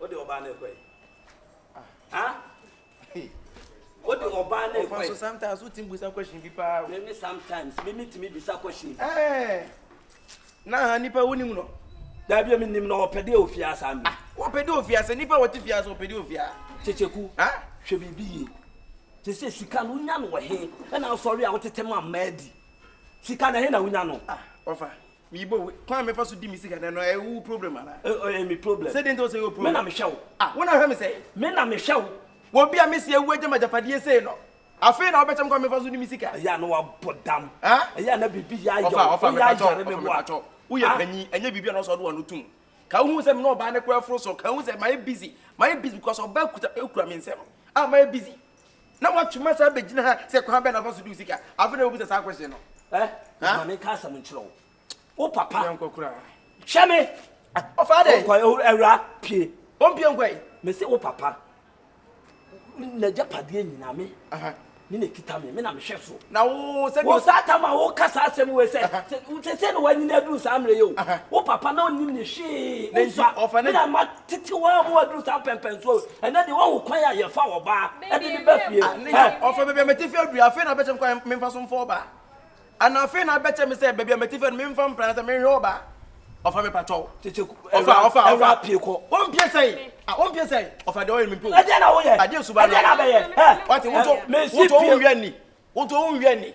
wode ɔbaa no kɔe wode ɔbaa no kɔe so sometimes wotumi bisa question bi paa meme sometimes meme tumi bisa question bi eh. na ha nipa wonim no dabi mi nim na ɔpɛ de ofie asa mi ɔpɛ de ofie asa nipa wɔte fie asa ɔpɛ de ofie a kyekyeku hwɛ biribi yie te sɛ sika no wonya no wɔ he ɛna asɔre a wotete ma mmaa di sika na ɛhe na wonya no ah ɔfa meyibɔ wo kwan mefa so di me sika no ɛyɛ wo problem anaa ɛyɛ me problem sɛ dɛn nti ɔsɛ yɛ wo problem me na mehwɛ wo ah wo na hwɛ me sɛ me na mehwɛ wo wɔ bi a mesi awu agya ma agyapadeɛ sei no afei na wobɛkyɛm kwan mefa so di me sika ɛyɛ a na wabɔ dam ɛyɛ a na biribi yɛ ayɛ ɔfa ɔfa mepatɔ ɔfa mepatɔ woyɛ panyin ɛnyɛ biribi a na ɔsɛ ɔde wɔn no tum ka wohu sɛ me na ɔbaa ne kora foro so ka wohu sɛ mayɛ busy mayɛ busy because ɔbaa kuta ekura me nsam a mayɛ busy Na watwe m'asa abɛgyina ha sɛ kwan bɛn na ɔfa so di wo sika? Afei na wobisa saa question no. Eh? Ha? Ma menka asɛm nkyerɛ wo. Wo papa. Yɛnkɔ koraa. Hwɛ me! Ɔfaa dɛ? Ɔnkɔ awura pie. Ɔmpie nkɔ yi? Mese wo papa. N'agyapadeɛ nyinaa me. Aha. Me na ɛkita me, me na mehwɛ so. Na wo sɛ. Wo saa tam a woka saa asɛm wei sɛ sɛ sɛ na wanyini aduru saa mmerɛ yi o. Wo papa na ɔnim ne hwee. Nti ɔfa ne. Tete hɔ ara, mmoa duru saa mpɛnpɛnsoɔ wei. Ɛnnɛ deɛ wɔahu kwan a yɛfa wɔ baa de bi ba fie. Ane hɛ, ɔfa baabi a mete fɛ aduru yi, afei na abɛkyɛ me kwan memfa so mfa ɔbaa? Anaa afei na abɛkyɛ me sɛ baabi a mete fɛ no memfa mpra na sɛ menhwɛ ɔbaa? Ɔfa me pakyɛw. Tete, Ɔfa, ɔfa, ɔfa. Ɛwura pie kɔ. Ɔmpie sɛn? Ah, ɔmpie sɛn? Ɔfa deɛ ɔyɛ no mempɛ o. Ɛdeɛn na woyɛ? Adeɛ suban no. Ɛdeɛn na abɛyɛ? Hɛ, Wate, wotɔ, mensi wotɔ pie. wonwia nni. Wotɔ, wonwia nni.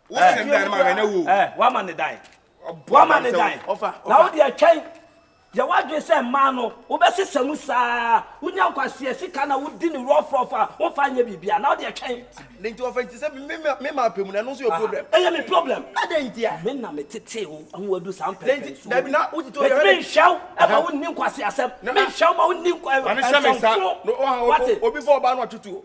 wosɛm dan ma wɛnɛ wo wama ne dan wama ne dan na wode atwɛn yɛ wadwene sɛ mmaa no wobɛsesa mu saa wonya nkwaseɛ sika na wodi ne rɔfrɔf a womfa nyɛ biribia na wode atwɛn ne nti wɔfa nti sɛ me ma pɛ mu na ɛno nso yɛ problem ɛyɛ me problem adɛn ntia me na metetee wo ama wadu saa mpɛmpɛn so dabi na wotete wo yɛrɛ menhwɛw ɛma wonni nkwase asɛm menhwɛw ma wonni nkwaseɛ wate obi fɔ ɔbaa no atutuo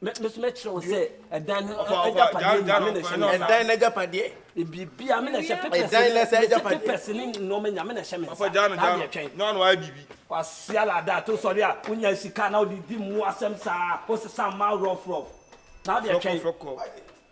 Me nso mɛkyerɛ wɔn sɛ ɛdan no agyapadeɛ yi maame na ɛhyɛ me nsa. Ɛdan no agyapadeɛ. Biribi a me na ɛhyɛ pepɛs. Ɛdan no sɛ agyapadeɛ. Pepɛs ne nneɛma nyame na ɛhyɛ me nsa. Papa gya no gya no. Twɛn. Nyɔn no ayɛ biribi. Wasia la da to sɔre a wonya sika na wode di mu asɛm saa wosesa ma rɔfrɔf. Na wode twɛn. Frɔkɔ frɔkɔ.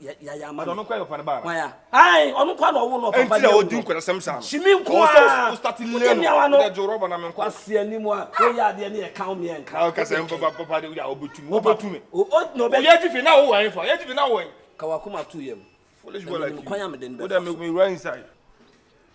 yaya ama mi. ɔno kɔ yɛ papa ne ba. wɔn ya ayi ɔno kɔ na ɔwɔ no papa de ɔwɔ. ɛnti na ɔdi nkɔla sɛm saa no. jimi nkɔ aa ɔdi miawa no wasi anim a ɔyɛ adeɛ ne ɛka omi ɛnka. awo kasa yɛn papa papa de ɔyɛ ɔbɛtumi ɔbɛtumi. ɔyɛ fifi na ɔwɔ yɛn fa ɔyɛ fifi na ɔwɔ yɛn. kawa kuma tu yam. foolish boy like you. ɛnum kwan yam den bɛ fa so. o de mi mi wura inside.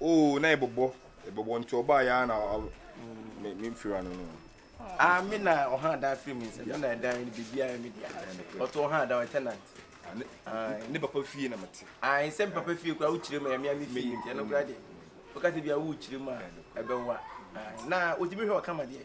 Oh na ebɔbɔ ebɔbɔ nti ɔbaa yɛ na me me mfira no no. Ah me na ɔha adan firi mi nsɛm me na ɛdan no biribi ayɛ me deɛ ɔto ɔha adan ɔyɛ tenant. Ne papa fie na mete. Ah nsɛm papa fie kura wokyerɛ mu ɛyɛ mea me fie nti ɛno kura deɛ wokasɛ bia wokyerɛ mu a ɛbɛwa na wotumi hwɛ ɔkama deɛ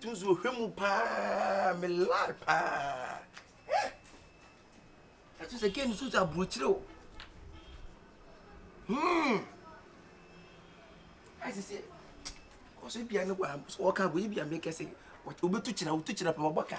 Tuzi ohwɛ mu paa me lie paa. Eh. Ɛso sɛ game so sɛ aburokyire o. Hmm. Ɛsɛ sɛ ɔsɛ bia ne wa ɔka bo bia me kɛse obetu kyerɛ otu kyerɛ pɛ ɔbɔ ka.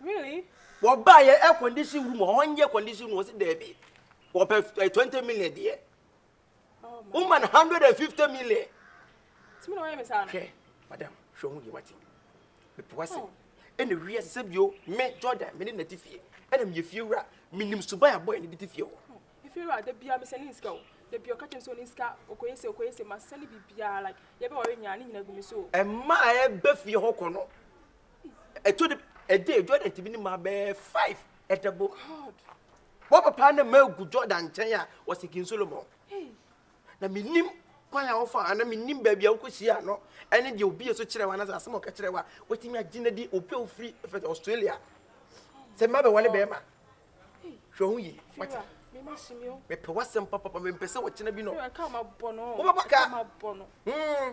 Really? Wɔbaa yɛ air condition room hɔ nyɛ condition room ɔsi dɛbi wɔpɛ eh, twenty million deɛ woman oh hundred and fifty million. tumi na wɔyɛ mi saa no. hwɛ madam hwɛ ohun deɛ wati mepɛ wasi oh. ɛna wia sɛ bio me jordan me ne na ti fie ɛna mi yɛ fie wura mi nim suban abɔ yɛ ne bi ti fie wɔ. Oh, efi wura de bia mi sɛ ne nsika o de bia ɔka kyɛm sɛ ɔne nsika okoye sɛ okoye sɛ ma sɛ ne bi bia like yɛ bɛ wɔre nyaa ne nyina gu mi so. ɛma a ɛbɛ fie hɔ kɔ no ɛtɔ de ɛde jordan tumi ne ma bɛɛ five ɛda bom wɔ papa ne ma egu jordan nkyɛn a wɔsi king solomon na mi nim kwan a wɔfa ana mi nim baabi a wɔkɔ hyia no ɛne deɛ obi yɛ so kyerɛ wa anase asɛm a ɔka kyerɛ wa wɔtumi agye na di obi a ofiri fɛ australia sɛ mma bɛ wɔne bɛrima hwɛ ho yie wate mepɛ wasɛm papapa mempɛ sɛ wɔkyena bi no wobɛbɔ ka hmm.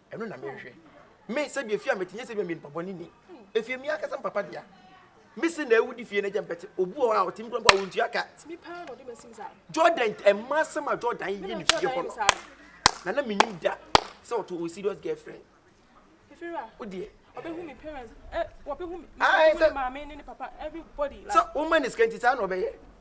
Ɛno na mehwehwɛ. Me sɛdeɛ fie a mete nyɛ sɛdeɛ menipa bɔne ni. Efie me ankasa me papa dea. Me se na awudi fie n'agya mpɛte. Obu wɔ hɔ a ɔte mpo mpo a wɔntua ka. Jordan ɛma asɛm a Jordan yɛ ne fie hɔ no. Na na menim da sɛ ɔto wɔ serious girlfriend. Wo deɛ. Ɔbɛhu me parents. Ɛ wɔbɛhu me maame ne ne papa everybody. Sɛ woma ne sika nti saa na ɔbɛyɛ.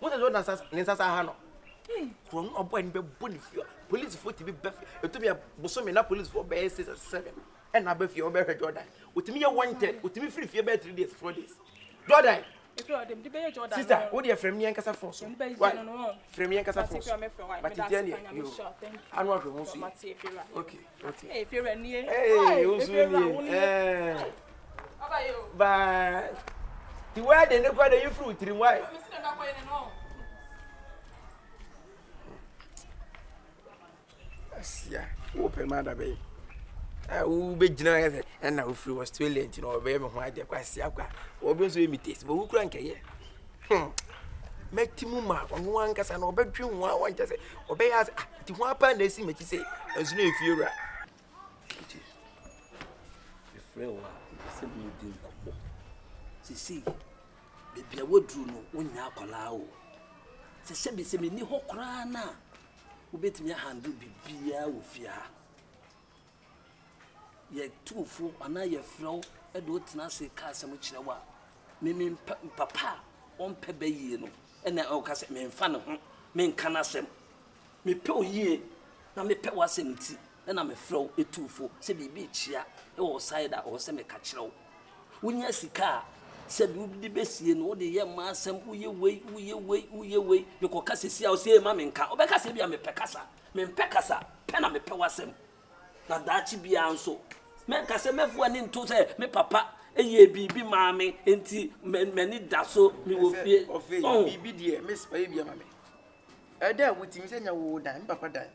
Moses ɔda nsa ne nsa saa ha no kuro no ɔbɔ ɛni bɛ bɔ ne fie polisifoɔ tumi bɛ fie etumi yɛ bosome na polisifoɔ bɛyɛ six and seven ɛna abɛ fie ɔbɛ hwɛ Jordan otumi yɛ one ten otumi firi fie bɛyɛ three days four days Jordan sista wo deɛ fɛrɛ mi yɛn kasa fɔn so wa fɛrɛ mi yɛn kasa fɔn so matidiɛ deɛ yoo anu ahwɛ ho so yi okay. Efiewura nie. Ee, nso nie. Baa. Ti wa de ne kwa de yi furu tiri wa. Asia, wo pɛ ma da bɛyi. A wo bɛ gyina na kɛsɛ ɛna wo firi Australia nti na ɔbɛyɛ me ho adeɛ kwa asia kwa. Ɔbɛ nso yɛ mi test, bɔ wo kura nkɛyɛ. Hmm. Mɛti mu ma ɔno ankasa na ɔbɛdwe ho a wɔnkyɛ sɛ ɔbɛyɛ ase. Ah, Nti hwan paa na esi m'akyi sɛ nsu no yɛ fiewura? Kiti, mefrɛ wo a, mepɛ sɛ mo di nkɔmmɔ. Sisi, baabi a woduru no, wonyɛ akwadaa o. Sɛ hyɛ bi sɛ menni hɔ koraa no a, wobɛtumi ahandle biribiara wɔ fie ha. Yɛtu fo anaa yɛfrɛ wo de wo tena ase ka asɛm kyerɛ wo a, meme papa a ɔmpɛ bɛyie no ɛna ɔka sɛ memfa ne ho menka n'asɛm. Mepɛ wo yie na mepɛ w'asɛm nti na na mefrɛ wo etuu fo sɛ biribi rekyea wɔ wo side a ɔwɔ sɛ meka kyerɛ wo. Wonya sika a sɛdeɛ wode bɛsie no wode yɛ mmaa asɛm woyɛ wei woyɛ wei woyɛ wei mekɔka sesie a wo sɛ ee ma menka wobɛka sɛ ebia mepɛ kasa mempɛ kasa pɛ na mepɛ w'asɛm na daakye biara nso mɛnka sɛ mɛfo ani nto sɛ me papa ɛyɛ biribi maa me nti m'ani da so mewɔ fie ɔho biribi deɛ mespɛ ebia ma me Ɛdɛn, wotumi sɛ nyɛ wo dan, me papa dan.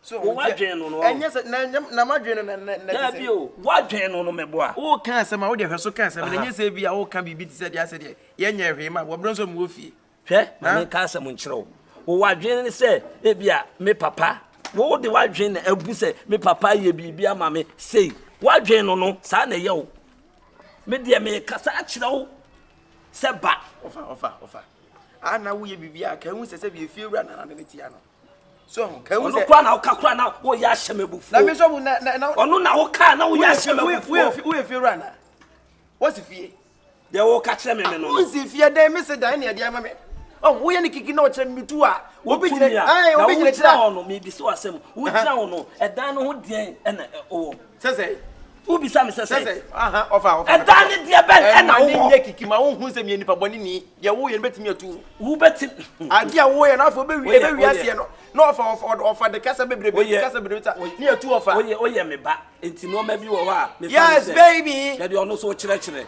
So wo wadwen no no. Ɛnyɛ sɛ na na na madwen no na na na. Dabi o, wadwen no no meboa. O ka asɛm a wo de hwɛ so ka asɛm na nyɛ sɛ bi a wo ka biribi te sɛ de asɛ deɛ yɛnyɛ hwee ma wɔbrɛ nso mu wɔ fie. Hwɛ, ma me ka asɛm nkyerɛ wo. Wo wadwen ne sɛ ebi a me papa wo de wadwen na abu sɛ me papa ayɛ biribi ama me sei. Wadwen no no saa na ɛyɛ o. Me deɛ mekasa akyerɛ wo. Sɛ ba. Ɔfa ɔfa ɔfa. A na woyɛ biribi a kan hu sɛ sɛ bi efie wura na ne tia no. So ho kan hu sɛ. Ɔno kura na ɔka kura na woyɛ ahyɛ me bufuo. Na me nso na na na. Ɔno na woka na woyɛ ahyɛ me bufuo. Woyɛ fie woyɛ fie wura na. Wɔsi fie. Deɛ wɔka kyerɛ me me no. Wonsi fie dɛn me se dan ne ɛdeɛ ama me. Ɔn woyɛ ne kiki na ɔkyerɛ me tu a. Obi gyina ɛn obi gyina kyerɛ. Na wogyina hɔ no mi bi so asɛm. Wogyina hɔ no ɛdan no ho deɛn ɛna ɔwɔ. Sɛsɛ. wobisa me sɛ sɛ ɛda ne deɛ bɛn ɛna wowɔnyɛ kiki ma wohu sɛ meyɛ nnipa bɔne ni deɛ woyɛ no bɛtumi atu wobɛtim ade a woyɛ no afei wobɛwia seɛ no na ɔfa ɔfa de kasa bebrebe de kasa bebrebe ta ne atu ɔfa woyɛ woyɛ me ba nti nneɛma bi wɔ hɔ a mefa yes baby baabi ɔno so wokyerɛkyerɛ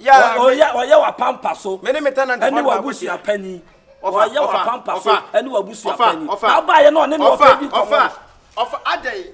ɔyɛ wapampa so ɛne wabusua pani ɔyɛ wapampa so ɛne wabusua pani abaeɛ no ɔne ne ɔfa bi kɔmɔ ɔfa adɛn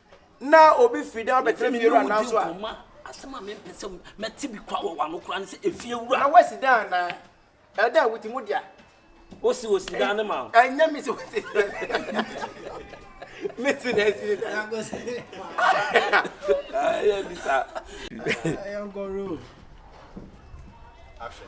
Na obi firi dan bɛtena fie wura nan so a. Nkɔma asɛm a mempɛ sɛ mɛte bi kora wɔ w'ano kora ne sɛ efie wura. Na woasi dan anaa? Ɛdan a wote mu dea. Wosi osi dan ne ma o. Ɛnyɛ me sɛ wosi me si na asi dan. Ɛyɛ bisa. Ɛyɛ nkɔro. Action.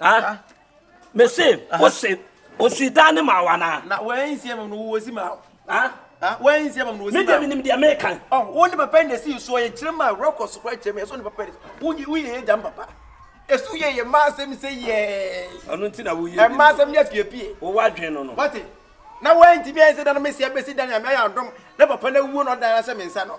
Ah, mese, wose, osi dan ne ma wo anaa? Na wɔansi ama no wɔsi ma wo. Ah? Ah, wɔansi ama no wɔsi ma wo. Medeɛ menim deɛ meka. Oh, wo ne papa na si so yɛ kyerɛ ma rɔkɔ so kora kyerɛ ma ɛso ne papa. Woyɛ woyɛ yɛ gyam papa. Esu yɛ yɛ mma asɛm sɛ yɛɛ. Ɔno nti na woyɛ. Mma asɛm yɛ piepie. Wo wadwen no no. Wate? Na wɔantumi ansi dan no mesi abɛsi dan a mɛyɛ adom na papa no awuo na ɔdan ahyɛ me nsa no.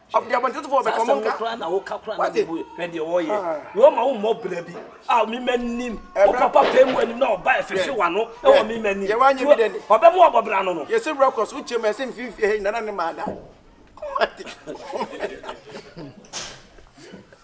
Saa asɛm no koraa na woka koraa na mebɔ yi. Hwɛ deɛ wɔyɛ. Na wɔma wo mmɔ bra bi. A me mma nim. Wo papa pɛ mu anim na ɔba ɛfefe wano ɛwɔ me mma nim. Ɔbɛ mo abɔ bra no no. Yɛsɛ wura kɔs wo kyɛm ɛsɛ mfimfie hɛ nyina na ne maa da.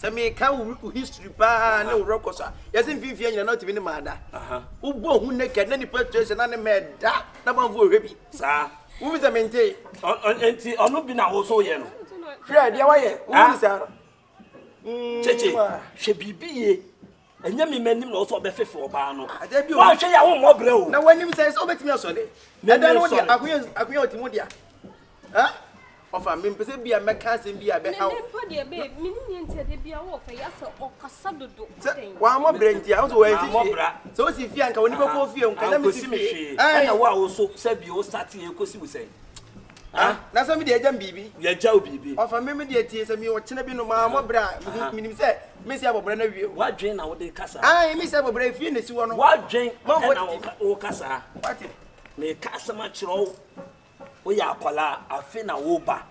Sɛ meka wo wo history paa ne wo records a, yɛse mfimfini anyina na wotumi ne maa da. Wobɔ hu naked na nipa tua sɛ na ne mɛ da na manfo ohwɛ bi. Saa. Wofi sɛ mente. Nti ɔno bi na wo so yɛ no. Hwɛ deɛ wayɛ. Wofi saa. Cheche, hwɛ biribi yie. Ɛnyɛ me m'anim na ɔsɛ ɔbɛfefe ɔbaa no. Ah, dabi o. Wanhwɛ yɛ a wommɔ brɛ o. Na w'anim sɛ sɛ wobɛtumi asɔre. Ɛda no deɛ akonya akonya ɔte mu deɛ. Ha? Ɔfa mempɛ sɛ bia mɛka asɛm bi a ɛbɛhaw. Ne mpo deɛ bɛ me ne nea nti ɛde bia wɔ fɛ yasɛ ɔkasa dodo. Sɛ wammɔ brɛ nti a wosɛ wɔansi fie. Sɛ wosi fie a nka w'ani bɛkɔ fie o nka na mesi fie. Ɛna wo a wo so sɛ bi wo start yɛ ɛkɔsi wo sɛn. Ah. Ah, na sɛ me deɛ agya me biribi. Yɛagya wo biribi. Ɔfa me me deɛ tie sɛ me ɔkyena bi no maa mɔ brɛ a mehu menim sɛ mesi abɔbrɛ no awie o. W'adwen na wode ka saa. Ae mesi abɔbrɛ efie na esi hɔ no. W'adwen ɛna woka saa. Wate. Meka asɛm akyerɛ wo woyɛ akwadaa afe na woba.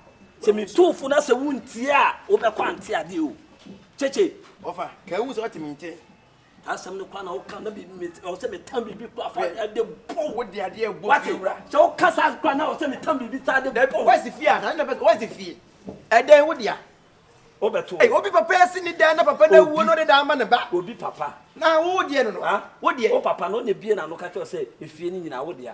Sɛ metu wo fo na sɛ wontie a wobɛkɔ ante adeɛ o. Kyekye. Ɔfa ka ehu sɛ ɔte me nkyɛn. Saa asɛm no koraa na woka na biribi me ɛwɔ sɛ metam biribi koraa fa ɛde bɔ wo. Wode adeɛ bɔ fie wura. Sɛ woka saa koraa na ɛwɔ sɛ metam biribi saa de bɔ wo. Wɔsi fie a na na bɛ wɔsi fie. Ɛdɛn wo dea. Wobɛto. Ei obi papa asi ne dan na papa na wuo na ɔde dan ama ne ba. Obi papa. Na wo deɛ no no. Wo deɛ. Wo papa no na ebie na no ka kyerɛ sɛ efie ne nyinaa wo dea.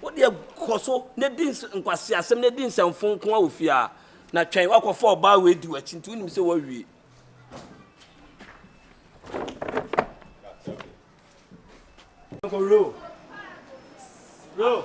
Wo deɛ kɔ so na di nkwaseasɛm na di nsɛmfo nko ara wɔ fie ha na twɛn wakɔfa ɔbaa wei di w'akyi nti wonim sɛ wawie. Roll. Roll.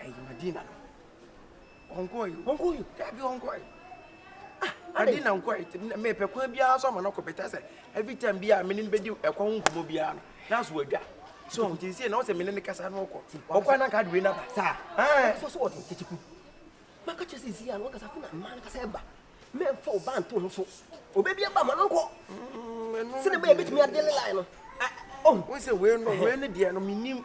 Ɛyɛ Madina no. Ɔnkɔɔ yi. Ɔnkɔɔ yi. Daabi ɔnkɔɔ yi. Ah, Madina nkɔɔ yi. Mepɛ kwan biara so ama no kɔ bɛtɛ sɛ every time bi a mene no bɛdi ɛkwan ho nkɔmmɔ biara no, na aso wadwa. So nti sɛ na ɔsɛ mene no kasa no ɔkɔ. Ɔkɔ na nka ade wei no aba. Saa. Ɛɛ. So so ɔde nkyekyeku. Maka kyerɛ sisi a na ɔkasa fo na mmaa no kasa ɛba. Mɛmfa ɔba nto ho so. Ɔbɛ bi ɛba ma no nkɔ. Sɛ ne bɛyɛ bɛtumi adele line no. Ɔhu. Wo sɛ wei no, wei no deɛ no menim.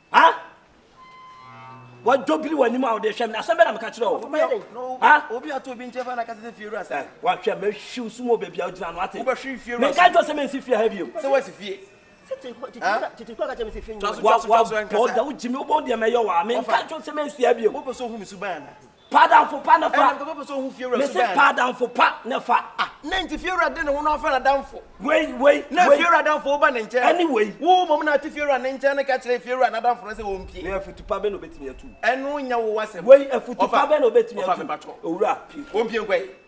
Ha? Wadwo biri w'anim a wode hwɛ me. Asɛm bɛ na meka kyerɛ wo. Ha? Obi ato obi nkyɛn fa na kasa sɛ fie wura sɛ. Wahwɛ mɛhwiw so mu baabi a wogyina no ate. Wobɛhwiw fie wura. Meka kyerɛ sɛ mensi fie ha bio. Sɛ wasi fie. Tete kura ka kyerɛ me sɛ fie nyɛ. Wabɔ da wogye me wobɔ deɛ mɛyɛ wɔ a. Menka kyerɛ sɛ mensi ha bio. Wopɛ sɛ ohu me suban anaa? Pa adamfo pa na fa. Ɛnam kɛfɛ pɛ sɛ ohu fiewura suban. Mese pa adamfo pa na fa ah. Na enti fiewura de ne ho no afrɛ n'adamfo. Wei wei wei. Na fiewura adamfo ba ne nkyɛn. Ɛne wei. Wo mmom na te fiewura ne nkyɛn no ka kyerɛ fiewura n'adamfo no sɛ wɔmpie. Na afutu pa bɛn na obetumi atu. Ɛno nyɛ wo w'asɛm. Wei afutu pa bɛn na obetumi atu. Ɔfa mepakyɛw. Owura pie. Wɔmpie nkɔ ɛ.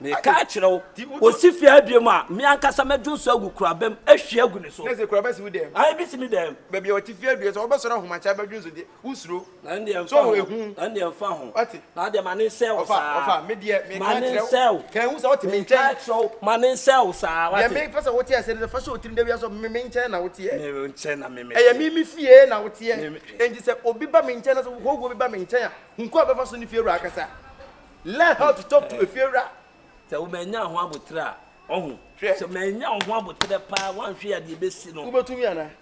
meka akyerɛ wo ɔsi fie abie mu a me ankasa mɛdwo nso agu kuraba mu ahwie agu ne so kuraba si wo dɛm ayɛ bi si me dɛm baabi a ɔte fie adue sɛ wɔbɛsɔre ahomakyɛ bɛdwo nso deɛ wosuro Na ndeɛ nfa ho, na ndeɛ nfa ho, na deɛ ma ne nsɛ wo saa, ma ne nsɛ wo, meka kyerɛ wo, ma ne nsɛ wo saa, wate. Deɛ mepɛ sɛ wote aseɛ ne sɛ, fa hyɛ wo tirim da biara sɛ, me me nkyɛn na woteɛ. Me me nkyɛn na me me teɛ. Ɛyɛ me me fie na woteɛ. Enti sɛ obi ba me nkyɛn anaasɛ hɔhoɔ bi ba me nkyɛn a, hu kwan a wobɛfa so ne fiewura akasa. Learn how to talk to a fiewura. Sɛ wo mannya ho aboterɛ a, wahu. Sɛ mannya wo ho aboterɛ paa, woanhwɛ a deɛ ɛbɛsi no. Wobɛtumi anaa?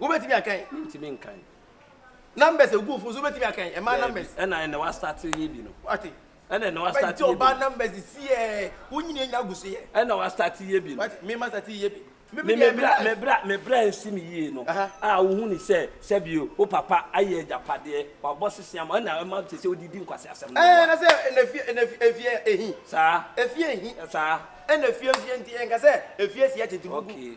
Wobɛtumi akan? Mentumi nkan. Numbers egu ofun so wobɛtumi akan? Ɛmaa numbers. Ɛna ɛna wa start yɛ bi no. Wate. Ɛna ɛna wa start yɛ bi. Bɛnti ɔba numbers si ɛ. Wonyini enya gu so yɛ. Ɛna wa start yɛ bi no. Wate mi ma start yɛ bi. Me me me bra me bra me bra nsi mi yie no. A wohu ni sɛ sɛbi o papa ayɛ agyapadeɛ wabɔ sisi ama ɛna ɛma sɛ sɛ odi di nkwasi asɛm no. Ɛɛ na sɛ ɛna efie ɛna efie ehi. Saa. Efie ehi. Saa. Ɛna efie efie nti ɛnka sɛ efie si ɛtinti gugu. Okay.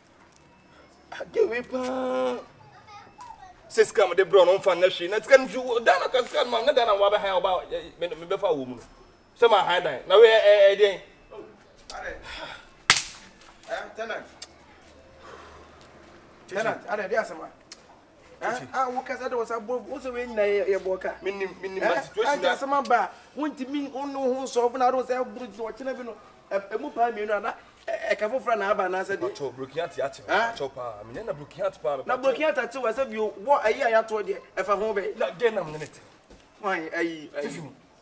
adewe paa sɛ sika mede brɛ no mfa nyɛ hwee na sika no so da na ka sika no ma ne da na wabɛhan ɔba mebɛfa wɔ mu no sɛ mahan dan na wei ɛdeɛn tenant ada ɛde asɛm a a wokasa de wo nsa bɔ wo sɛ wei nyina yɛbɔ ka agya asɛm aba a wontumi wone wo ho nsɔ wobɛna wode wo sɛ boro gyina ɔkyena bi no ɛmu paa mmienu ana ɛka foforɔ na aba anaasɛ deɛ na brokiat atew ɛsɛ bio wɔ ayi a yɛatoɔ deɛ ɛfa ho bɛyi ayi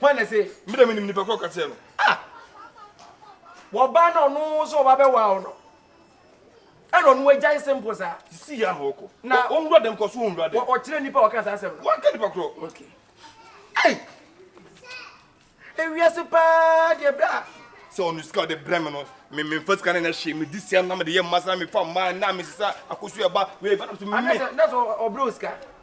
Hwan na ɛse? Me de menim nipa korɔ ka kyerɛ no. Ah! Wɔba na ɔno sɛ ɔba bɛ wow no. Ɛna ɔno agyae simple saa. Sisi yɛ ahɔ kɔ. Na ɔnwura dɛm kɔ so ɔnwura dɛm. Ɔkyerɛ nipa a ɔka saa asɛm no. Wanka nipa korɔ. Okay. Ei! Ewiase paa deɛ bra. Sɛ ɔno sika ɔde brɛ me no, me me nfa sika ne na hye, me di sia na me de yɛ mma sɛ na me fa mmaa na me sisa akosu ɛba. Wei fa na me. Anasɛ na sɛ ɔbrɛ osika.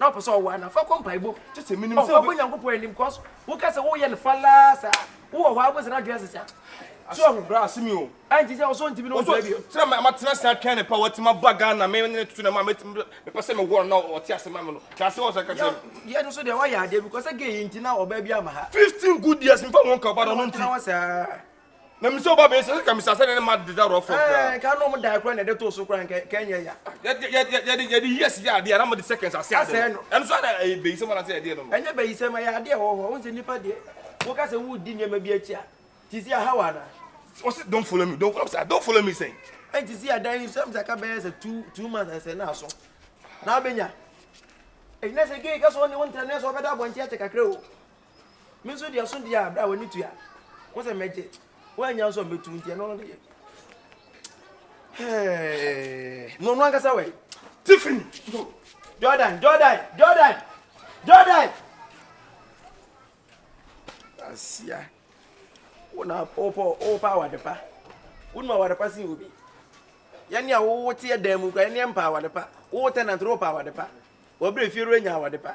Na ɔpɛ sɛ ɔwo ana fa kɔ mpaebɔ mu kyɛ sɛ menim sɛ wobɛ Nyankopɔn anim cos woka sɛ woyɛ no falaa saa wowɔ hɔ a wobɛsɛ no adwene ase saa so ɔho bra ase mi o ɛnti sɛ ɔso ntimi ne wotena bi kyerɛ ma matena se atwɛn ne pa watimi aba Ghana me ne tutu na ma mɛtimi mepɛ sɛ mewɔ no na ɔte ase ma me no na ase wɔ sɛ ka kyerɛ me yɛ no so deɛ wayɛ adeɛ bi kɔ sɛ gay nti na ɔbaa bi ama ha 15 good years mfa wɔn ka ɔba no no nti na mi sɛ ɔba bɛ sɛ kàmi sase ne ne ma deda rɔ fam koraa. ɛɛ nka nom dan koraa na ɛde to so koraa nka nka ɛnyɛ ya. yɛde yɛde yɛde yɛde years yɛ adeɛ anam de seconds ase adeɛ no ɛno so ada ɛyɛ bɛyisɛm anase yɛ adeɛ no no. ɛnyɛ bɛyisɛm ɛyɛ adeɛ ɛwɔ hɔ wosɛ nipa deɛ woka sɛ wodi nneɛma bi akyi a ti si aha wa na. ɔsi don follow me don follow me sɛ don follow me sɛ. ɛnti si adan yi sɛm sɛ ka bɛyɛ sɛ two two months ɛsɛ na aso na abɛnya ɛnyɛ sɛ gay kɛsɛ ɔne wo ntɛnɛ sɛ ɔbɛda abɔnten akyɛ kakra o. Me nso deɛ so deɛ a bra w'ani tua wo sɛ mɛgye woanya nso a mɛtu nti ɛno no deɛ na ɔno ankasa wɛ tifin jordan jordan jordan jordan asia wona wopɔ wopɛ awade pa wonum awade pa sen obi yɛne a wowoteɛ dan mu kora yɛne ɛmpa awade pa wowotɛ nantoro wopɛ awade pa wɔberɛ fie ro anya awade pa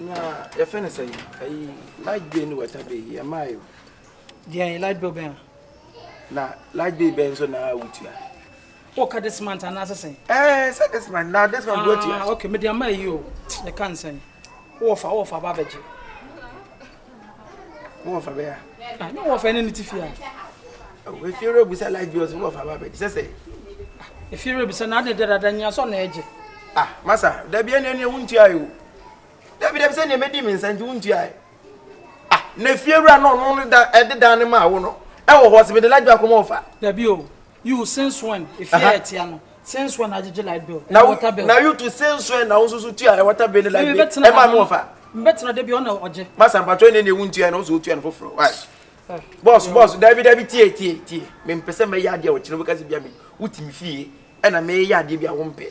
Na yɛfɛ no sɛ ayi light bay ne water bay yɛ maa yɛ. Deɛ light bill bɛn a. Na light bay bɛn nso na wotua. o ka this month anaasɛ sɛn. ɛɛ sɛ this month na this month woatua. Ah, ok mede ama ayi o ne ka nsɛn wowɔ fa wowɔ fa ba bɛgye. Mo wɔfa bɛyɛ a. Ah, ne wɔfa ne ne ti fie a. Oh, efie wura bisa light bills mo wɔfa ba bɛ de sɛsɛ. Ah, efie wura bisa na ade dada da nyia so na ɛgye. Ah, masa, da bi ɛne ɛne wuntua yi o. Da bi da bi sɛ ne medi me nsa nti wuntua yi. Ah, na efie wura no no da ɛde dan ne ma wo no. Ɛwɔ hɔ sɛ mede light bill akɔma wɔfa. Da bi o. You since when efie a ɛtea no since when agyegye light bill na water bill. na you too since when na wo nso so tua water bill ne light bill ɛma mi wɔ fa. mbɛtena dabi ɔna ɔgye. masa mpatwɛ ne deɛ wuntua na ɔsɔ otua no foforɔ why bɔs bɔs dabi dabi tie tie tie mempɛ sɛ mɛyɛ adeɛ a ɔkyerɛ wobɛka sɛ bia me wote me fie ɛna meyɛ adeɛ bi a wompɛ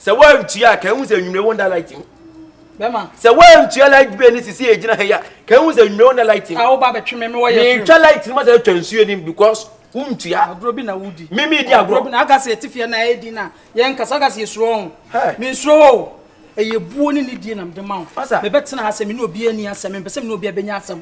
sɛ woantua a kan hu sɛ anwummere wonda light mu bɛma sɛ woantua light bɛn ne sisi ɛgyina ha yi a kan hu sɛ anwummere wonda light mu a woba bɛtwe me mewɔ yɛ metwa light no ma sɛ atwa nsuo anim because wontua agorɔ bi na wodi mimi di agorɔ na aka sɛ ɛtefiɛ na ɛdi na yɛnkasa aka sɛ yɛsuro ho mensuro hɔ o ɛyɛ buo ne ne die nam de ma wo mebɛtena ha sɛ me ne obi ani asɛm mempɛ sɛ me ne obi abɛnya asɛm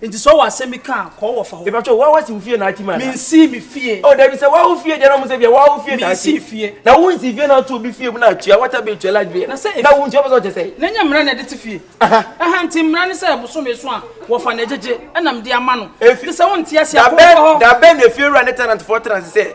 Enti sɛ ɔwɔ asɛm bi ka a, kɔ wɔfa hɔ. Mepakyɛw, woa woasi wo fie na atim anaa? Minsii me fie. Oh, dabi, sɛ woa wo fie deɛ na wɔn sɛ bia woa wo fie na atim. Minsii fie. Na wonsii fie na ato obi fie mu na atua water bill, tua light bill. Na sɛ efi. Na wonsua pɛ sɛ ɔkyɛ sɛn? Na ɛnyɛ mmara na ɛde te fie. Aha. Aha, nti mmara ne sɛ bosome so a wɔfa na ɛgyegye ɛna mede ama no. Efi. Nti sɛ wonte ase a, kɔ wɔfa hɔ. Da bɛn, da bɛn na efiewura ne tenantfoɔ tena ase sɛ.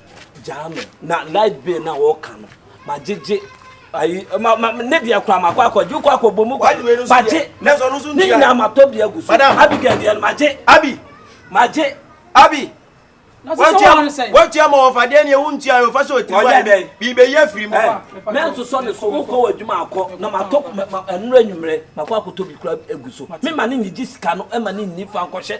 gyaa no na light bill na wɔka no magyegye ayi ma ma ne deɛ kora makɔ akɔgye wokɔ akɔbɔ mu kwa magye ne nyinaa matɔ bi agu so abigail deɛ no magye abi magye abi wotua ma wɔfa deɛ neɛ wontua yɛ ɔfa sɛ ɔtiri biribɛyi afiri mu mensosɔ ne so wokɔ wɔ adwuma akɔ na matɔ ɛnora anwummerɛ makɔ akɔtɔ bi kora agu so mema ne nyegye sika no ma ne nni fa nkɔhyɛ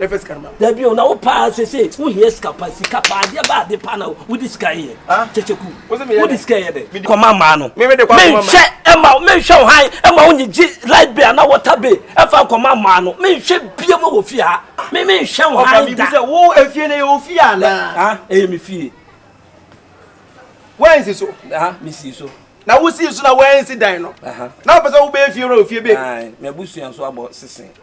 ɛfɛ sika no ma. dabi o na wo paa sese wo hia sika pa sika pa adeɛ ba ade pa na wo di sika yɛ kyekye ku wo di sika yɛ dɛ. kɔma maa no menhwɛ ɛma menhwɛ ɔhan ɛma wo nyegye light bay ana water bay ɛfa kɔma maa no menhwɛ bia mu wɔ fie ha me menhwɛ ɔhan da. ɔfa wo efie no yɛ wɔ fie ana. ɛyɛ me fie. wɛnsi so. me si so na wosi so na wɔansi dan no na wopɛ sɛ wobɛyɛ fie wura ofie bɛ mabusua nso abɔ sese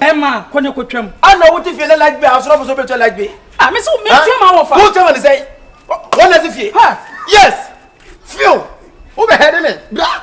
ɛma kɔ ne kɔtwam ana wote fie ne light bi a asɔrɔfo so bɛtua light bi a me so metua ma wɔfa wotua ma ne sɛ wɔna se fie yes fio wobɛhɛde me bra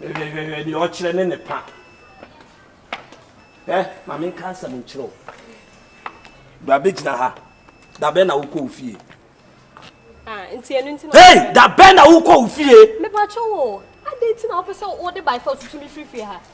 Hwɛhwɛhwɛ deɛ ɔkyerɛ ne ne pa. Ɛ ma me nka asɛm nkyerɛ wo. Bra bɛgyina ha. Da bɛn na wokɔ wo fie? Ah, nti ɛno nti na. Hey, da bɛn na wokɔ wo fie? Mepakyɛ wo, adɛn nti na wopɛ sɛ wode baefa tutu me firi fie ha?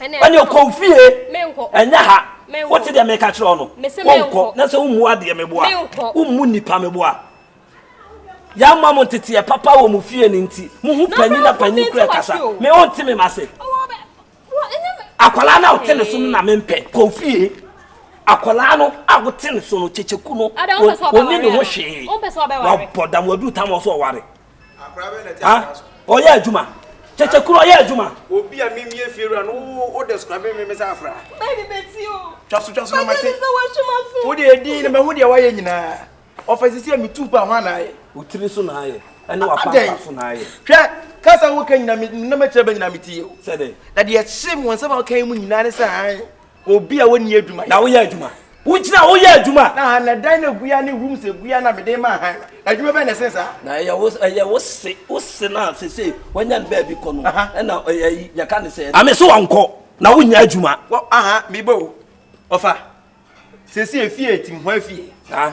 ɛne ɔkɔ fie ɛnyɛ ha wote deɛ meka kyerɛ wo no wonkɔ na sɛ wommu adeɛ meboa wommu nnipa meboa yɛama mo nteteɛ papa wɔ mo fie no nti mohu panyin na panyin kura kasa me wonte me ma se akwadaa no a wote ne so no na mempɛ kɔ fie akwadaa no a wote ne so no kyekyeku no ɔni ne ho hwee wabɔ dam waduru tam ɔsɛ ɔware ha ɔyɛ adwuma kyɛkyɛ kuro ɔyɛ adwuma. obi a mi mie fie wura no wo wo de sukura bɛ mi mi sa afra. bɛɛ de bɛ ti o. twaso twaso na ma se. bɛɛ de sɛ wa suma so. wo de edi na ma ho deɛ wa yɛ nyinaa ɔfɛ sisi mi tu pa ho ana ayɛ. o tiri so na ayɛ ɛne wa pampa so na ayɛ. hwɛ kasa wo ka nyina mi na ma kyerɛ bɛ nyina mi ti yɛ o. sɛ de. na deɛ ɛhyɛ mu wɔn nsɛm a wɔka yi mu nyinaa ne sɛ ayi. Obi a wonni adwuma na woyɛ adwuma. Wogyina woyɛ adwuma. Na ha na dan no gua ne rooms gua na mede ma han no. Adwuma bɛn na ɛsen saa? Na ɛyɛ wo ɛyɛ wo se wo se na sese wanya ne baabi kɔ no. Ɛna ɛyi yɛka ne sɛ. Ame so wɔnkɔ na wonyɛ adwuma. Wɔ aha mebɔ o. Ɔfa. Sese efie tim hwan fie? Saa.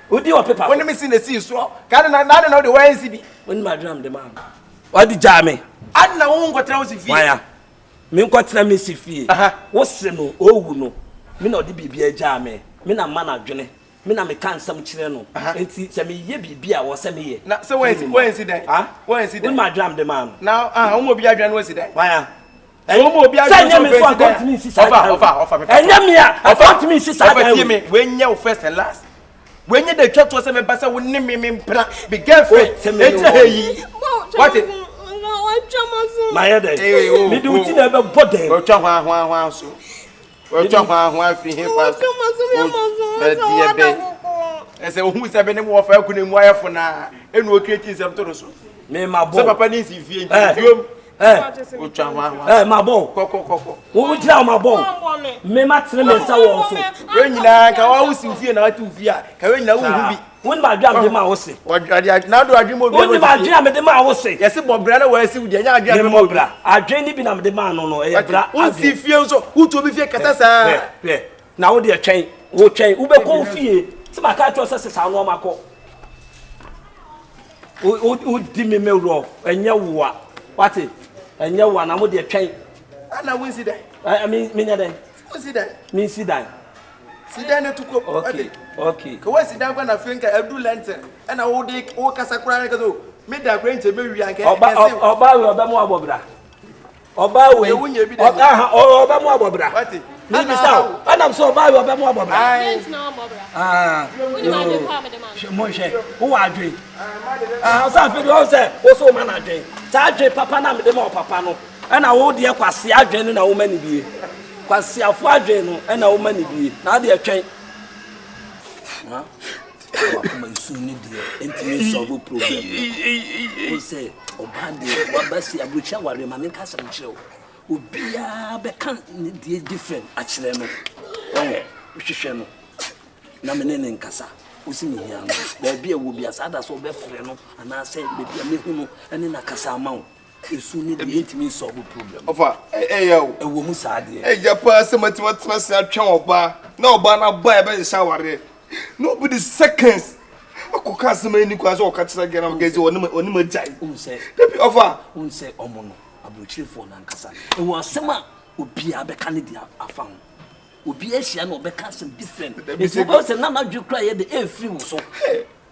Odi wɔ paper. Oni mi si na si soɔ. Ka na na na odi wɔn si bi. Oni ma dram de ma mi. Wadi gya mi. Adi na wo nkɔtena wo si fie. Wanya. Mi nkɔtena mi si fie. Wo se no owu no. Mi na ɔde biribi agya mi. Mi na ma na dwene. Mi na mi ka nsɛm kyerɛ no. Nti sɛ mi yɛ biribi a wɔsɛ mi yɛ. Na sɛ wɔn si wɔn si dɛn. Wɔn si dɛn. Oni ma dram de ma mi. Na wɔn obi adwene wɔn si dɛn. Wanya. ɛnyɛ mu obi adwuma sɛ ɔbɛn ti dɛ ɔfa ɔfa ɔfa mi ka ɛnyɛ mi a ɔfa ntumi nsi saa dan yi mi wei nyɛ o first and last wei nyɛ de twɛ toɔ sɛ mi ba sɛ wo ne mi mi mpira mi girlfriend egyina ha yi wati. mayɛ dɛ mi de o ti na ɛbɛ bɔ dɛ. ɔtwa hwan hwan hwan so ɔtwa hwan hwan fi hin pa so ɛdiɛ bɛ ɛsɛ ohun sɛ bɛ ne mu wɔ fɛ kun ne mu ayɛ fo naa ɛnu okiri ti nsɛm to do so. mi ma bɔ sɛ papa ni nsi fie nti fie mu. Eh, eh, ma bɔ wo gyina wo ma bɔ me ma tene me nsa wɔ so wei nyinaa nka wawo si fie na ate fie a ka wei nyinaa wohu bi wone maadwe a mede ma wo se nado adwe ma obiwone maadwe a mede ma wo se yɛse bɔbra na wɔasi wo deɛ ɛnyɛ adwe adwe ma bra adwen ne bi na mede ma no no ɛyɛ bra wonsi fie nso wotu obi fie kasa saa na wode ɛtwɛn wotwɛn wobɛkɔ wo fie sɛ maka kyerɛ sɛ sesaa no ɔmakɔ Wo wo di me me wrɔ ɛnyɛ wo a wate ɛnyɛ wo a na mo deɛ twɛn. Ana wo nsi dan. Ɛ mi mi nyɛ dɛn. Wo nsi dan. Mi nsi dan. Si dan ne to kɔ. Okay okay. Ka wo si dan kɔ na fie nka edu lɛnte ɛna wo de wo kasa kura ne kasa o mi dan kura nkyɛn mi wia nka ɛsɛ. Ɔba ɔba wɛ ɔbɛ mu abɔ bra. Ɔbaa wei, ɔkaa ha, ɔbɛ mu abɔ bra. Mi bi sa o, ɛnam sɛ ɔbaa wei ɔbɛ mu abɔ bra. Mo nhwɛ, wo wɔ adwen. Ɔsɛ afei de ɔwɔ sɛ wo so ma no adwen. Saa adwen papa na mede ma wo papa no, ɛna wo deɛ kwasi adwen no na wo ma ne bie. Kwasiafo adwen no ɛna wo ma ne bie. Na adeɛ twɛn. Ɛyɛ wakoma esu ne deɛ ɛntumi nsɔlvo problem no. Wohu sɛ ɔbaa deɛ waba si aburokyire awareɛ ma menka asɛm nkyerɛ wo. Obiara bɛka ne deɛ different akyerɛ no. Wahu hwehwɛ no na me ne no nkasa. Wosi mehia no baabi a ɛwɔ bia saa da so wobɛfrɛ no anaasɛ baabi a mɛhu no ne no akasa ama wo. Esu ne deɛ ɛntumi nsɔlvo problem. Ɔfa ɛyɛ o. Ɛwɔ mu saa deɛ. Ɛyɛ paa sɛ matumi atena ase atwɛn ɔbaa na ɔbaa no aba a ɛbɛhyehyɛ awareɛ na obi de seconds akɔka asɛm ani kwan sɛ ɔka kyerɛ gɛ na ɔgɛ sɛ ɔne ma gyae. Dabi ɔfa. Wohu sɛ ɔmo no aburokyerefoɔ no ankasa ɛwɔ asɛm a obiara bɛka ne deɛ afa ho obiara hyia na ɔbɛka asɛm different nti wobɛhu sɛ na n'adwene koraa yɛ de ɛrefiri wo so.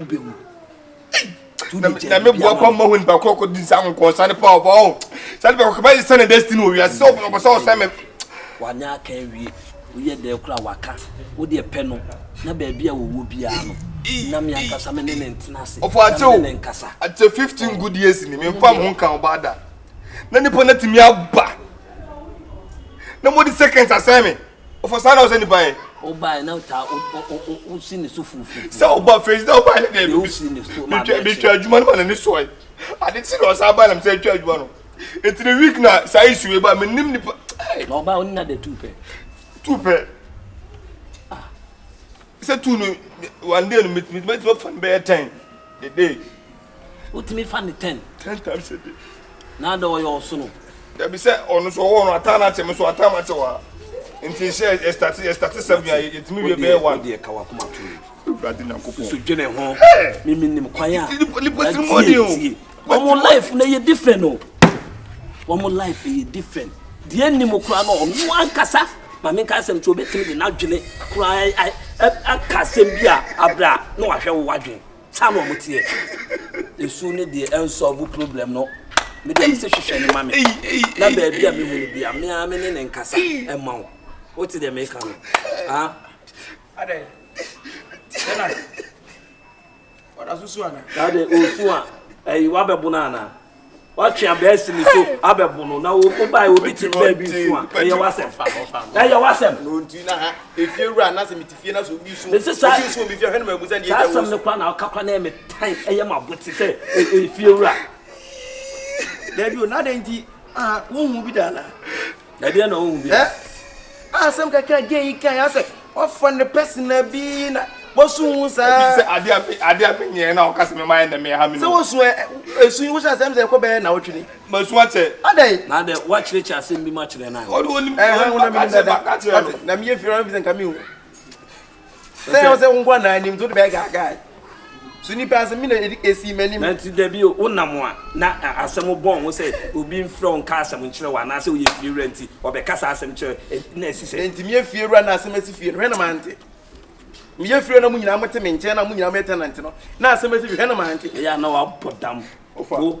wobɛwu na me boa kɔ ma ho nipa korɔ kɔdi nsa ho kɔn sane pa ɔbɔ o sane pa kɔkɔbɛ yɛ sane destiny wɔ wiase sɛ ɔbɔ sɛ ɔsɛ me wanyɛ aka awie woyɛ dɛn kora waka wodeɛ pɛ no na baabi a wɔwɔ biara no na me ankasa me ne ne ntena ase ɔfɔ akyɛw ne nkasa akyɛ 15 good years ni memfa mo nka ɔba ada na nipa no atumi aba na mode seconds asɛn me Ɔfɔ saa na ɔsɛ nipa yɛ. Ɔbaa na ɔtaa ɔsi ne so fufufu. Sɛ ɔba fɛs na ɔbaa ne dɛm. Ɔsi ne so maa bɛkyɛ. Mitwa adwuma no ma n'ani sɔe. Ade ti na ɔsan baa na mesɛ atwa adwuma no. Eti ne week na saa isu yi ba menim nipa. Na ɔbaa ɔne na da tu pɛ. Tu pɛ. Ah. Sɛ tu no one day no mitumi fa no bɛyɛ ten a day. Wotumi fa ne ten. Ten times a day. Na ada ɔyɛ ɔsono. Dabi sɛ ɔno so ɔwɔ no ata na akyɛ me so ata ma kyɛ wɔ ha. Nti nhyɛ yɛ start yɛ start seven a yɛtumi wie bɛyɛ one. Wodeɛ ka wakoma to yi. Awurade Nyankopɔn. Susu dwene ho. Me me nim kwan a. Nipa tiri mu ɔden o. Wɔn life na yɛ different o. Wɔn life yɛ different. Deɛ nim kura no ɔno ankasa. Maame nka asɛm ti obetumi de n'adwene kura aka asɛm bi a abira na wahwɛ wo wadwene. tam ɔmo teɛ nsuo ne deɛ ɛnsɔlvo problem no me deɛ mese hwehwɛ no ma me na baabi a mehu no bia me ara me ne ne nkasa ɛma wo wote deɛ meka no ah adɛ ɛna wada so su ana ade osu a ɛyi wabɛbo no anaa watwe abɛɛ si ne so abɛbo no na wobae obi te bɛɛ bi nso a ɛyɛ w'asɛm ɛyɛ w'asɛm mese saa asɛm no kwa na woka kwa na ɛme tan ɛyɛ m'abote sɛ ɛfie wura daabi o na dɛn nti wohu bi da anaa Ɛdeɛn na wohu bi a. Eh? Ah, asɛm kakra gay yi kan asɛ wafa ne personal bi na wasu hu saa. Ebi sɛ adeɛ a adeɛ a menyɛ na ɔka sɛ mema ayɛ na meyɛ ha me no. Sɛ wosu ɛ esu yi wohyɛ asɛm sɛ ɛkɔ bɛyɛ na wotwe ni. Masu akyɛ. Adɛn. Na adɛn wakyerɛkyerɛ asɛm bi mu akyerɛ no a. Ɔde onim ɔde ɔka kyerɛ no. Na meyɛ fie na mefisɛ nka mehu. sɛ ɛwɔ sɛ wonkɔ anaa anim nti wode bɛyɛ gaagae so nipa asɛm bi na ɛsi m'anim na nti da bi wonam a na asɛm bɔn ho sɛ obi mfrɛ wo nka asɛm nkyerɛ wo anaasɛ woyɛ fie wura nti ɔbɛka saa asɛm kyerɛ e, na asi sɛ nti meyɛ fie wura na asɛm asi fie no hwɛ na mante meyɛ fie na mo nyinaa mote me nkyɛn na mo nyinaa moyɛ tenant no na asɛm asi hwɛ na mante ɛyɛ na wabɔ dam wo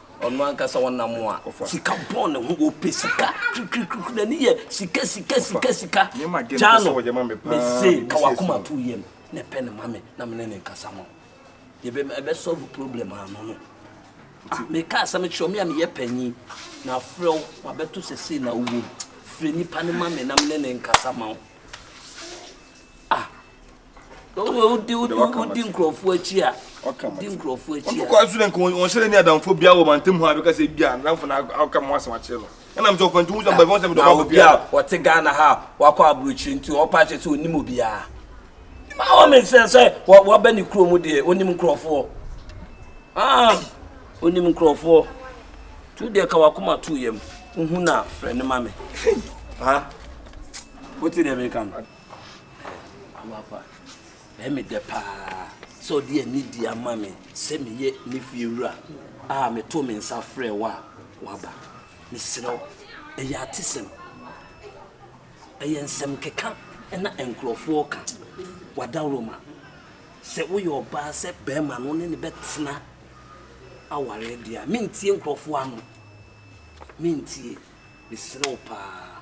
Ɔno ankasa ɔnam a sika bɔ ne ho, ɔpɛ sika kirikirikiri, n'ani yɛ sika sika sika sika. Gyaa no, mese ka w'akoma to yam na pɛ no ma me na me ne ne nkasa ma wo. Ɛbɛsɔlve problem ano no. Ah, meka asɛm kyerɛ me a meyɛ panyin na afrɛ wo mabɛto sɛ sei na wowom. Frɛ nipa no ma me na me ne ne nkasa ma wo. Ah, Wode wode wode wode nkurɔfoɔ akyi a wode nkurɔfoɔ akyi a. Ɔkɔ soro nka wɔn sɛ ne adamfo bia wɔ mantam hɔ a bɛka sɛ bia adamfo na aka mo asɛm akyerɛ no. Ɛna msɛ ɔkɔ nti wo sɛ mbɛ fɔn sɛ mede ɔba bia. Na obi a ɔte Ghana ha wakɔ aburokyire nti ɔpa akyɛ sɛ onim obiara. Ma wɔ me sɛ sɛ wɔbɛ ne kurom deɛ onim nkurɔfoɔ. Ah onim nkurɔfoɔ. Tu deɛ ka wakoma tu yam. Wohu na frɛ ne ma me. Ha? Wote deɛ meka no? Ampa, ɛyɛ me dɛ paa sɛ ɔde anidie ama me sɛ meyɛ ne fie wura a meto me nsa frɛ wo a woaba. Mesrɛ wo, ɛyɛ atesɛm. Ɛyɛ nsɛmkeka na nkurɔfoɔ reka. W'adawuroma, sɛ woyɛ ɔbaa sɛ barima no wo ne no bɛtena awareɛ deɛ a, mentie nkurɔfoɔ ano. Mentie. Mesrɛ wo paa.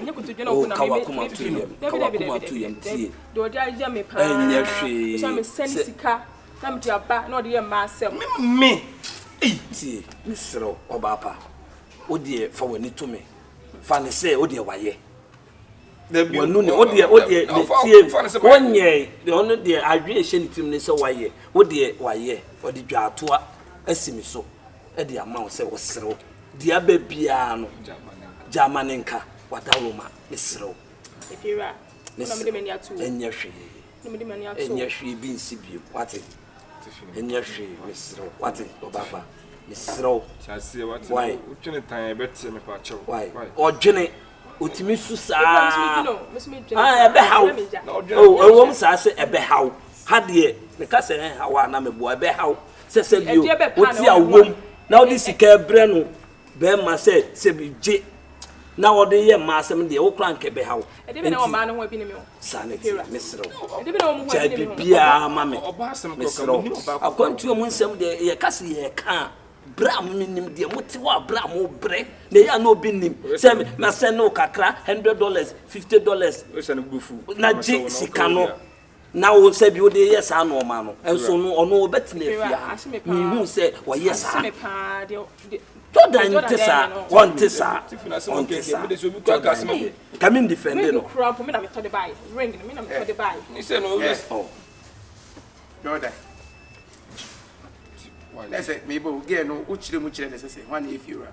O, ka w'akoma to yam, ka w'akoma to yam tie. Ɛnyɛ hwee sɛ. Me, ei, tie, mesrɛ wo, ɔbaa pa, wo deɛ fa w'ani to me, fa no sɛ wo deɛ wayɛ. wanu ne o deɛ o deɛ ne tie o nyɛɛ deɛ ɔno deɛ adwene ɛhyɛ ne tirim ne sɛ wayɛ o deɛ wayɛ ɔde dwaatoa asi me so. de ama wo sɛ wɔserɛ wo deɛ aba biara no gya ama ne nka wadaworo ma meserɛ wo ɛnyɛ hwee ɛnyɛ hwee bi nsi bio wate ɛnyɛ hwee meserɛ wo wate ɔbaba meserɛ wo wae ɔdwene ɔtumi su saa ɛbɛhaw ɛwom saa sɛ ɛbɛhaw ha deɛ meka sɛ ɛhaw a na meboa ɛbɛhaw sɛ sɛ bio wote awom na wode sika brɛ no bɛrima sɛ sɛ bi gye na wɔde yɛ mmaa asɛm deɛ wokora nkɛ bɛha wo saa ne teɛ meserɛ wo gyae biribiaa ma me meserɛ wo akwantuo mu nsɛm deɛ yɛka se yɛka a berɛ a menim deɛ mote hɔ a berɛ a mobrɛ na ɛyɛ a na obi nim sɛ masɛn ne wo kakra 100 dollars 50 dollars na gye sika no Na wo nsa bi wode reyɛ saa nnoɔma no nso no, ɔno ɔbɛtena afiaa. Menhuu sɛ ɔyɛ saa. Jordan nte saa ɔnte saa ɔnte saa Jordan deɛ ka me ndifɛnde no. Jordan na sɛ mebɔ o girl no wokyerɛ mu kyerɛ no sɛ sɛ hwan na ɛyɛ fiewura.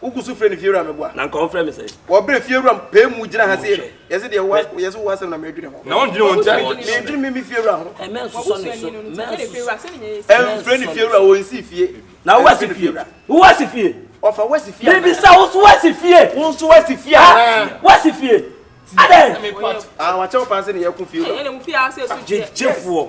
Wo gu so frɛ no fiewura meboa. Na nka ɔmfrɛ me sɛn. Wɔ berɛ fiewura pɛ mu gyina ha sei no, yɛse deɛ wo yɛse wo asɛm na mɛdwene ho. Na ɔndwene wɔn ti bɔ. Mendwene me me fiewura ho. Ɛ mɛnsosɔ ne so. Mɛnsosɔ. Ɛmfrɛ ne fiewura ɔnsii fie. Na wo asi fie. Wo asi fie. Ɔfa wo asi fie anaa. Mebisa wo so wasi fie. Wo nso wasi fie anaa. Wasi fie. Adɛn. Ah wakyɛ wo paa sɛ ne yɛko fiewura. Gyegyefoɔ.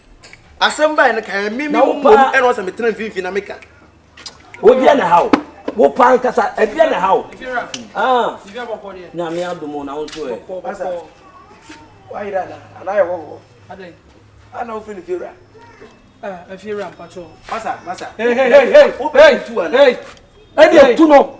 asɛm bae no kae me me wo paa ɛna ɔsɛ metena mfimfini na meka wo deɛ na ha o wo paa nkasa ɛdeɛ na ha o ah. nyame adomo na wo nso ɛ wayera na anaa yɛ hɔhoɔ ana wofiri no fiewura afiewura mpakyɛw masa masa ɛdeɛ tu no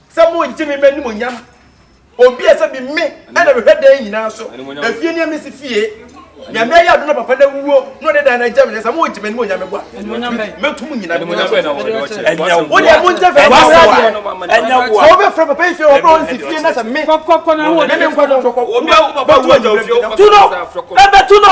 Sɛ mogye me m'animuonyam, obi a sɛ bi me na mehwɛ dan nyinaa so, efie ne mesi fie, nea mɛyɛ ado na papa na wuo na ɔde dan na agya me sɛ mogye m'animuonyam me boa mɛtu mu nyina ɛnyɛ woa sɛ wobɛfrɛ papa yi fie wɔbrɛ wɔn si fie na sɛ me ne ne nkwa no tu no ɛbɛtu no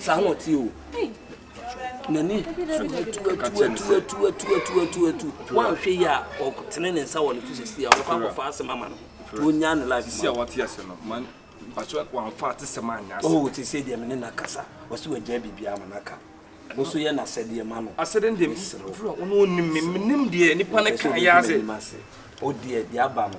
saa na ɔte o n'ani tuatuatuatuatuatuatuatuatu wanhwɛ yi a ɔtene ne nsa wɔ ne to sisi a ɔbɛkɔ akɔfa asɛm ama no wɔnya ne life sisi a wate ase no man bakyɛ wanfa ate sɛm anyɛ ase oh te sɛ deɛ me ne na kasa wɔsi wɔgya biribiara ma n'aka wo so yɛ n'asɛdeɛ ma no asɛdeɛ deɛ mfura wo ne onim me menim deɛ nipa ne kan yɛ ase o deɛ deɛ aba no